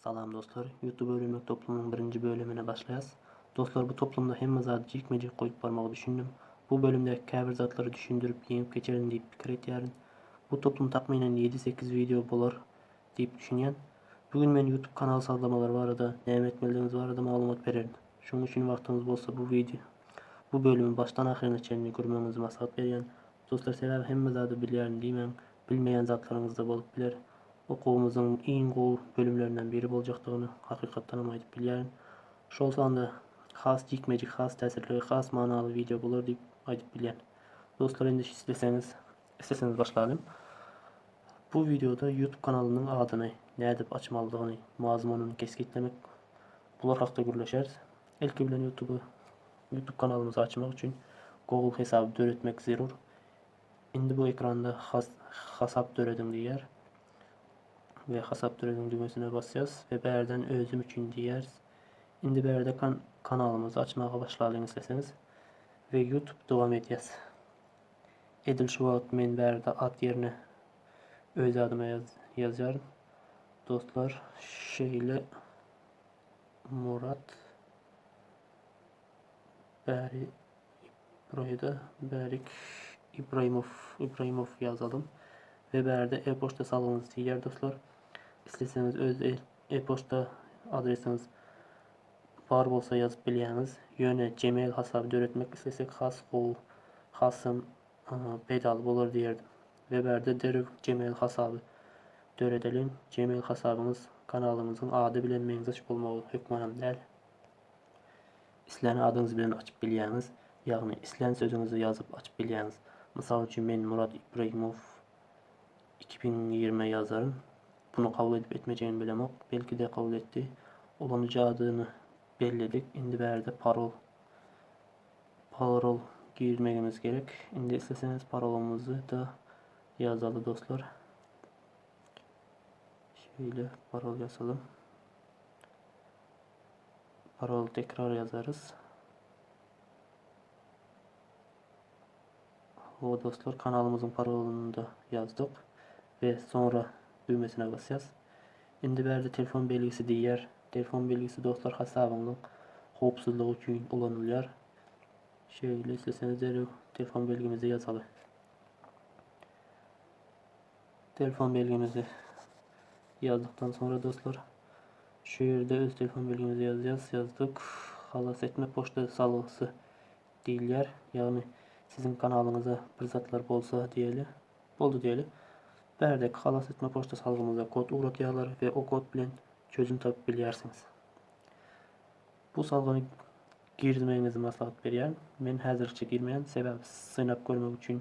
Salam dostlar! Youtube öwrenmek toplumynyň birinji bölümine başlaýas. Dostlar bu toplumda hemme zady jikme-jik goýup barmagy düşündim. Bu bölümdäki käbir zatlary düşündirip ýeňip geçerin diýip pikir etýärin. Bu toplum takmynan ýedi sekiz wideo bolar diýip düşünýän. Bu gün men youtube kanal sazlamalary barada, näme etmelidigiňiz barada maglumat bererin. Şonuň üçin wagtyňyz bolsa bu wideo bu bölümi başdan ahyryna çenli görmegiňizi maslahat berýän. Dostlar sebäbi hemme zady bilýärin diýmäň, bilmeýän zatlaryňyzda bolup biler. Okuwymyzyň iň gowy bölümlerinden biri boljakdygyny hakykatdanam aýdyp bilýärin. Şol sanda has jikme-jik, has täsirli we has manaly wideo bolar diýip aýdyp bilýän. Dostlar indi isleseňiz, isleseňiz başlalyň. Bu wideoda YouTube kanalynyň adyny nädip açmalydygyny, mazmunyny kesgitlemek bular hakda gürleşeris. Ilki bilen YouTube Youtube kanalymyzy açmak üçin Google hesaby döretmek zerur. Indi bu ekranda has hasap dörediň diýýär. Ve hasap dörediň düwmesine basýas ve bärden özüm üçin diýýäris. Indi bärde kan kanalymyzy açmaga başlalyň isleseňiz. Ve Youtube dowam edýäs. Edil şu wagt men bärde at ýerine öz adyma ýaz ýazýaryn. Dostlar şeýle Murat Bäri Ibraýda Bärik Ibraýmow Ibraýmow ýazalym we bärde e-poçta salgyňyzy siýýär dostlar. Isleseňiz öz e- e-poçta adresiňiz bar bolsa ýazyp bilýäňiz. Ýöne Gmail hasaby döretmek islesek has gowy, hasam e, peýdaly bolar diýerdim. We bärde derrew Gmail hasaby döredeliň. Gmail hasabyňyz kanalymyzyň ady bilen meňzeş bolmagy hökmanam däl. Islän adyňyz bilen açyp bilýäňiz, ýagny islän sözüňizi ýazyp açyp bilýäňiz. Mysal üçin men Murat Ibragimow iki müň ýigrimi ýazaryn. Bunu kabul edip etmejegini bilemok. Belki-de kabul etdi. Ulanyjy adyny belledik. Indi bärde parol parol girmegimiz gerek. Indi isleseňiz parolumyzy-da ýazaly dostlar. Şeýle parol ýazalym. Paroly tekrar ýazarys. Ho dostlar kanalymyzyň parolyny da ýazdyk we soňra düwmesine basýas. Indi bärde telefon belgisi diýýär. Telefon belgisi dostlar hasabyňyzyň howpsuzlygy üçin ulanylýar. Şeýle isleseňiz derew telefon belgimizi ýazaly. Telefon belgimizi ýazdykdan soňra dostlar şu ýerde öz telefon belgimizi ýazýas. Ýazdyk. Halas etme poçta salgysy diýilýär. Ýagny siziň kanalyňyza bir zatlar bolsa diýeli. Boldy diýeli. Bärdeki halas etme poçta salgymyza kod ugratýarlar we o kod bilen çözüm tapyp bilýärsiňiz. Bu salgyny girizmegiňizi maslahat berýän. Men häzirlikçe girmeýän, sebäbi synap görmek üçin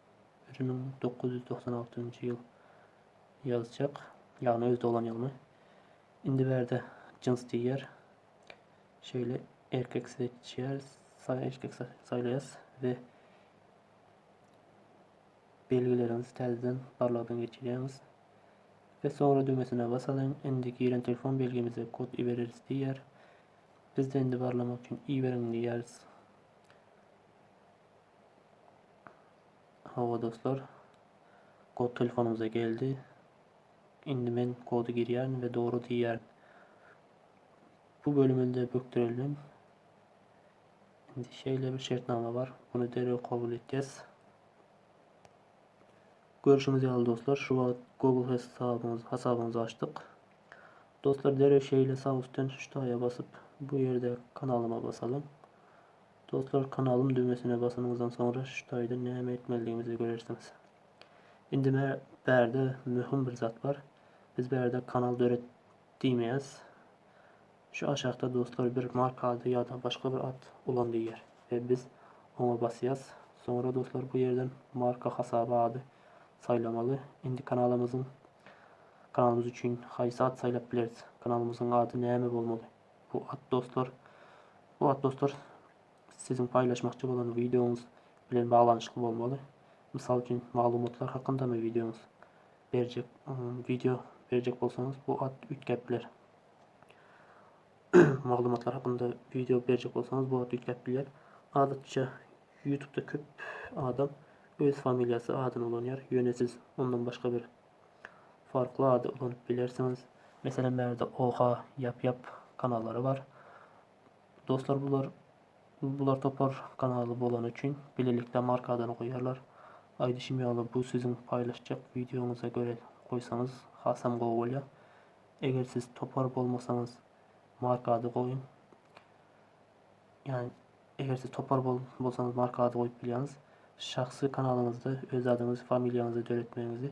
bir müň dokuz ýüz togsan altynjy ýyl ýazjak, ýagny öz doglan ýylymy. Indi bärde jyns diýýär. Şeýle erkek seçýär, sa- erkek sa- saýlaýas we belgilerimizi täzeden barlagdan geçirýäris. Ve sonra düwmesine basalyň, indi giren telefon belgimize kod ibereris diýýär. Biz-de indi barlamak üçin iberiň diýýäris. Hawa dostlar. Kod telefonumyza geldi. Indi men kody girýärin we dogry diýýärin. Bu bölüminde bökdürelim. Indi şeýle bir şertnama bar. Bunu derrew kabul etýäs. Görüşüňiz ýaly dostlar, şu wagt Google hesabyňyz hasabyňyzy açdyk. Dostlar derrew şeýle sag üstden ştaýa basyp, bu ýerde kanalyma basalyň. Dostlar kanalym düwmesine basanyňyzdan soňra şu taýda näme etmelidigimizi görersiňiz. Indi mä bärde möhüm bir zat bar. Biz bärde kanal döret diýmeýäs. Şu aşakda dostlar bir marka ady ýa-da başga bir at ulan diýýär we biz oňa basýas. Soňra dostlar bu ýerden marka hasaby ady saýlamaly. Indi kanalymyzyň kanalymyz üçin haýsy at saýlap bileris? Kanalymyzyň ady näme bolmaly? Bu at dostlar, bu at dostlar siziň paýlaşmakçy bolan wideoňyz bilen baglanyşykly bolmaly. Mysal üçin, maglumatlar hakyndamy wideoňyz? Berjek wideo berjek bolsaňyz, bu at üýtgäp biler. maglumatlar hakynda wideo berjek bolsaňyz, bu at üýtgäp biler. Adatça YouTube-da köp adam öz familiýasy adyny ulanýar, ýöne siz ondan başga bir farkly ady ulanyp bilersiňiz. Meselem bärde oha ýap ýap kanallary bar. Dostlar bular bular topar kanaly bolany üçin bilelikde marka adany goýarlar. Aýdyşym ýaly bu siziň paýlaşjak wideoňyza göre goýsaňyz hasam gowy bolýar. Eger siz topar bolmasaňyz marka ady goýuň. Ýagny eger siz topar bolsaňyz marka ady goýup bilýäňiz. Şahsy kanalyňyzda öz adyňyzy, familiýaňyzy döretmegiňizi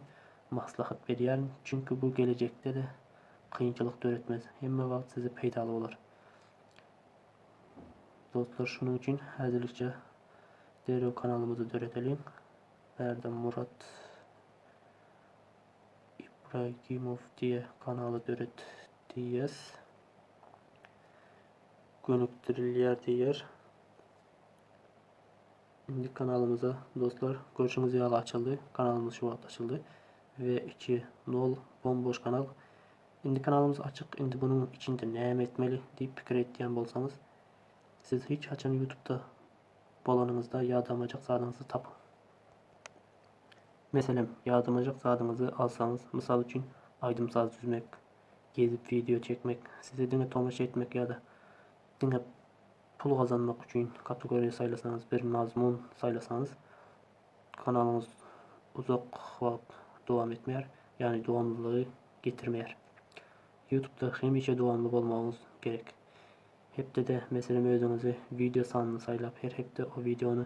maslahat berýärin. Çünki bu gelejekde-de kynçylyk döretmez. Hemme wagt size peýdaly bolar. Dostlar şunuň üçin häzirlikçe derrew kanalymyzy döredeliň. Bärde Murat Ibragimow diýe kanaly döret diýýäs. gönükdirilýär diýýär. Indi kanalymyza dostlar görşüňiz ýaly açyldy. Kanalymyz şu wagt açyldy. Ve 2 0 bomboş kanal. Indi kanalymyz açyk. Indi bunun içinde näme etmeli diýip pikir etýän bolsaňyz, siz hiç haçan YouTube-da bolanyňyzda ýadamajak zadyňyzy tapyň. Meselem, ýadamajak zadyňyzy alsaňyz, mysal üçin, aýdym-saz düzmek, Gezip wideo çekmek, size diňe tomaşa etmek ýa-da diňe pul gazanmak üçin kategoriýa saýlasaňyz, bir mazmun saýlasaňyz, kanalyňyz uzak wagt dowam etmeýär, ýagny dowamlylygy getirmeýär. YouTube-da hemişe dowamly bolmagyňyz gerek. Hepdede, meselem, özüňize wideo sanyny saýlap, her hepde o wideony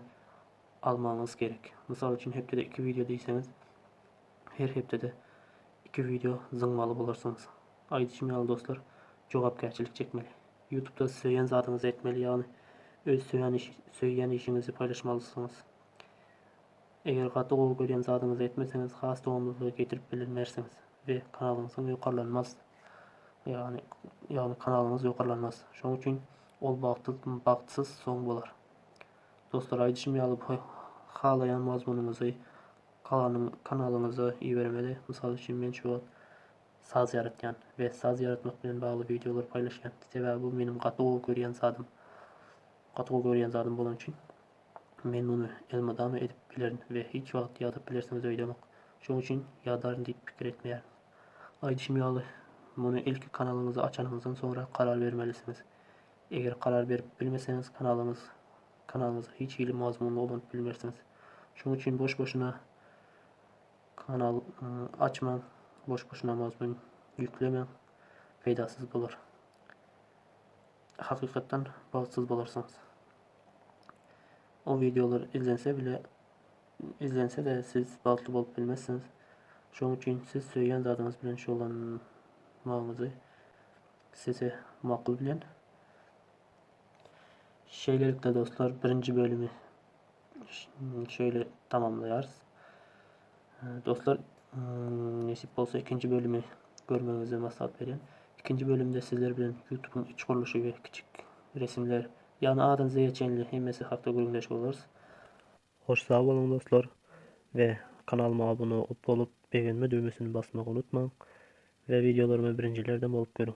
almagyňyz gerek. Mysal üçin, hepdede iki wideo diýseňiz, Her hepdede iki wideo zyňmaly bolarsyňyz. Aýdyşym ýaly dostlar, jogapkärçilik çekmeli. Ýutubda söýen zadyňyzy etmeli, ýagny öz söýen söýýän işiňizi paýlaşmalysyňyz. Eger gaty gowy görýän zadyňyzy etmeseňiz, has dowamlylygy getirip bilinmersiňiz we kanalyňyzyň ýokarlanmaz. Ýagny ýagny kanalyňyz ýokarlanmaz. Şoň üçin ol bagtsyz bagtsyz soň bolar. Dostlar, aýdyşym ýaly halaýan mazmunyňyzy Kanyň kanalyňyza ibermeli. Mysal üçin men şu wagt saz ýaratýan we saz ýaratmak bilen bagly wideolar paýlaşýan. Sebäbi bu meniň gaty gowy görýän zadym. Gaty gowy görýän zadym bolany üçin men muny elmydama edip bilerin we hiç wagt ýadap bilersiňiz öýdemok. Şoň üçin ýadaryn diýip pikir etmeýärin. Aýdyşym ýaly muny ilki kanalyňyzy açanyňyzdan soňra karar bermelisiňiz. Eger karar berip bilmeseňiz kanalyňyz Kanalyňyza hiç hili mazmun dolduryp bilmersiňiz. Şonuň üçin boş-boşuna kanal açmaň, boş-boşuna mazmun ýüklemeň. Peýdasyz bolar. Hakykatdan bagtsyz bolarsyňyz. O wideolar izlense bile izlense de siz bagtly bolup bilmezsiňiz. Şonuň üçin siz söýýän zadyňyz bilen şugullanmagyňyzy size makul bilen. Şeýlelikde dostlar birinji bölümi şeýle tamamlaýarys. Dostlar hmm, nesip bolsa ikinji bölümi görmegiňizi maslahat berýän. Ikinji bölümde sizler bilen YouTube-yň iç gurluşy we kiçik resimler, ýagny adan zeýe çenli hemmesi hakda gürrüňdeş bolarys. Hoş sag boluň dostlar we kanalyma abone bolup begenme düwmesini basmagy unutmaň we wideolarymy birinjilerden bolup görüň.